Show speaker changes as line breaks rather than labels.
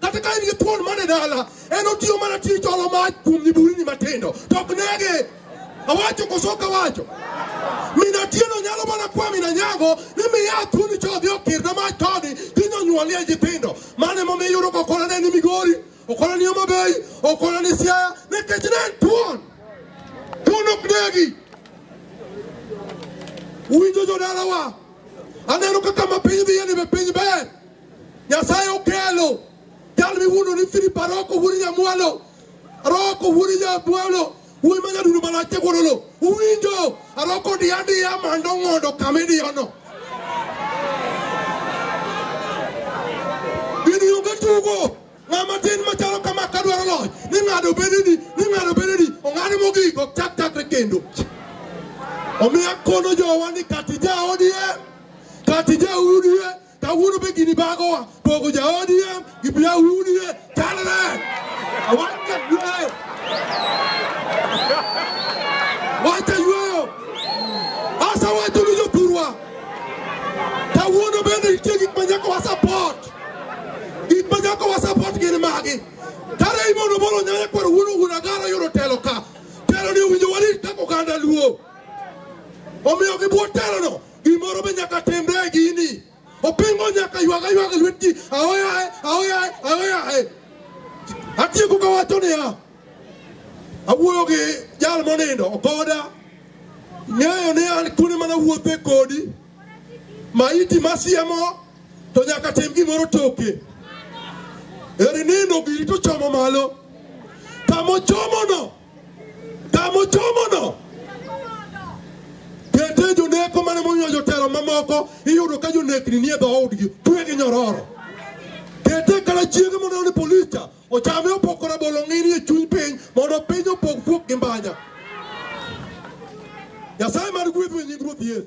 Kata ka in gi thuon man e dala, en otiyo mana tij cholo mach kuom nyiburini matindo, to ok nege. Awacho koso ok awacho? Min Atieno nyalo mana kwa min Anyango ni miya thuoni cha odhi okirna mach koni kiny onyuolie nyithindo. Mano emomiyo iyudo ka okona ne ni Migori, okona ni Homa Bay, okona ni Siaya nikech ne en thuon. Thuon ok negi. Winjo jodalawa, aneno kaka ma piny dhiyeni be piny ber. Nyasaye okelo jal miwuondo ni Philip Aroko wuod Nyamwalo Aroko wuod Nyamwalo wuoyi ma nyadundo malache wuodolo uwinjo Aroko diya diya mando ng'ondo kama idiyono gini onge tugo ng'ama tin machalo kama kadwaro loch ni ng'ado bedeni ni ng'ado bedeni ong'ad mogik ok chak chakre kendo omiyo akono jowa ni kati ja odie kati ja udie Kawuono be gini bagowa pogo ja ODM gi bia wunie chalre. Awaka yue. Wacha yueyo. Asa wacho ni jopurwa. Kawuono bende nitie gik ma nyaka wasapot. Gik ma nyaka wasapot gin magi. Kare imono bolo nyanya kwar wuono wuon agara yudo telo ka. Telo ni owinjo warit kaka oganda luo. Omiyo gi bwo telono Gimoro be nyaka timre e gini. Opingo nyaka ywaga ywaga lwet ji. Aoyae, aoyae, aoyae. Atieko ka wacho niya. Awuoyo gi jal monindo okoda. Ng'eyo ni an kune mana wuothe kodi. Maiti masiemo to nyaka tim gimoro toke. Eri nindo giri to chomo malo. Kamo chomono. Tamo chomono. Kete joneko mane momiyo jotelo mamoko iyudo ka jonekni nie dhoodgi twe gi nyororo. Kete kala chiege mondo ni polis cha ochame opoko rabolo ng'ini e chuny piny mondo piny opog fuok gi mbanya. Nyasaye mar gwedhu e nying Ruoth Yesu.